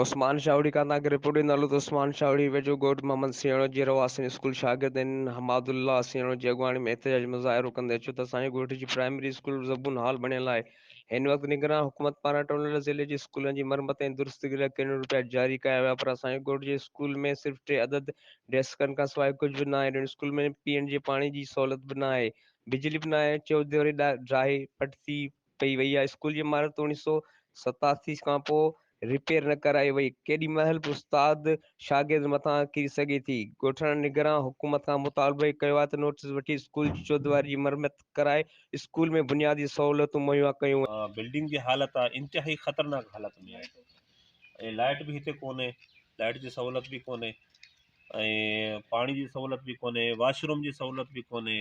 عثمان شاهوڙي کان تنهن کي رپورٽ ڏنل هو ته عثمان شاهوڙي ويجهو ڳوٺ محمد سيڻو جي رهواسين اسڪول شاگردين حماد الله سيڻو جي اڳواڻي ۾ احتجاج مظاهرو ڪندي چيو ته اسان جي ڳوٺ جي پرائمري اسڪول زبون هال بڻيل آهي هن وقت نگران حڪومت پاران ٽونڊل ضلعي جي اسڪولن جي مرمت ۽ درستگي لاء ڪروڙين روپيا جاري ڪيا ويا پر اسان جي ڳوٺ جي اسڪول ۾ صرف ٽي عدد ڊيسڪن کان سواء ڪجهه به ناهي ٽن اسڪول ۾ پيئڻ جي پاڻي جي سهولت به ناهي بجلي به ناهي چوڌري ڊاهي پٽ ٿي ڪئي وئي آهي اسڪول جي عمارت اوڻيهه سؤ ستاسي کان پوء رپيئر نه ڪرائي وئي ڪيڏي مهل به استاد شاگرد مٿان ڪري سگهي ٿي ڳوٺاڻن نگران حڪومت کان مطالبو ڪيو آهي ته نوٽيس وٺي اسڪول جي چوديواري جي مرمت ڪرائي اسڪول ۾ بنيادي سهولتون مهيا ڪيون وڃن. بلڊنگ جي حالت انتهائي خطرناڪ حالت ۾ آهي ۽ لائٽ به هتي ڪونهي لائٽ جي سهولت به ڪونهي ۽ پاڻي جي سهولت به ڪونهي واش روم جي سهولت به ڪونهي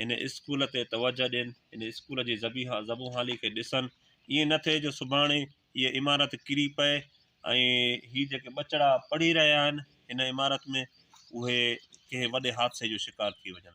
هن اسڪول تي توجهه ڏين، هن اسڪول جي زبيحا زبونحالي کي ڏسن، ائين نه ٿئي جو سڀاڻي هيء عمارت ڪري پئي ۽ هي جيڪي ٻچڙا پڙهي رهيا آهن هن عمارت ۾ اهي ڪنهن وڏي حادثي جو شڪار ٿي وڃن.